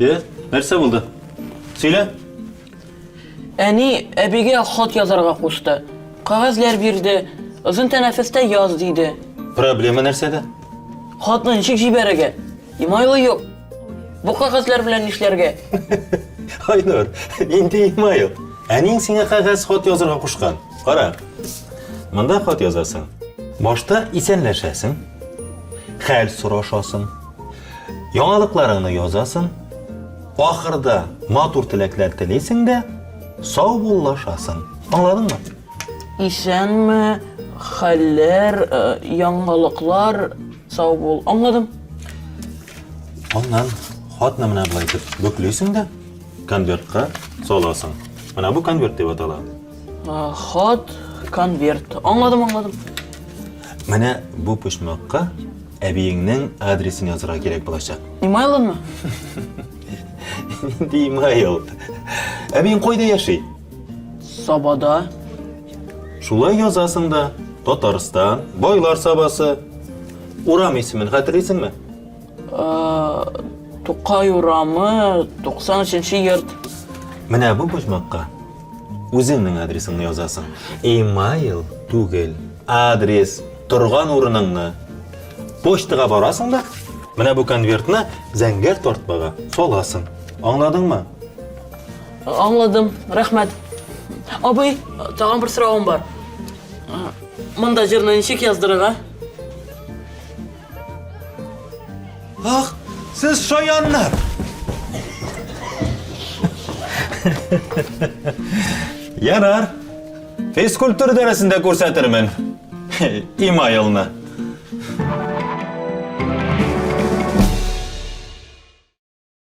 Э, нәрсә булды? Сөйлә. Әни әбигә хат язарга кушты. Кагазләр бирде. Озын тәнәфестә яз диде. Проблема нәрсәдә? Хатны ничек җибәрергә? Имайлы юк. Бу кагазлар белән нишләргә? Айнур, инде имайл. Әниң сиңа кагаз хат язарга кушкан. Кара. Монда хат язасың. Башта исәнләшәсең. Хәл сорашасың. Яңалыкларыңны язасын, ахырда матур теләкләр телисең дә, сау буллашасын. Аңладыңмы? Исәнме, хәлләр, яңалыклар, сау бул. Аңладым. Аннан хатны менә болай итеп бөклисең дә, конвертка саласың. Менә бу конверт дип атала. Хат, конверт. Аңладым, аңладым. Менә бу почмакка әбиеңнең адресын язырга кирәк булачак. Имайлымы? Нинди имайл? Әбиең кайда яши? Сабада. Шулай язасың да. Татарстан, байлар сабасы. Урам исемен хәтерлисеңме? Тукай урамы, 93-нче йорт. Менә бу почмакка үзеңнең адресыңны язасың. Имейл түгел, адрес, торган урыныңны. Почтага барасың да, менә бу конвертны зәңгәр тартмага саласың. Аңладыңмы? Аңладым, рәхмәт. Абый, тагын бер сорауым бар. Монда җырны ничек яздырырга? Ах, сез шаяннар! Ярар. Физкультура дәресендә күрсәтермен. Имайлны.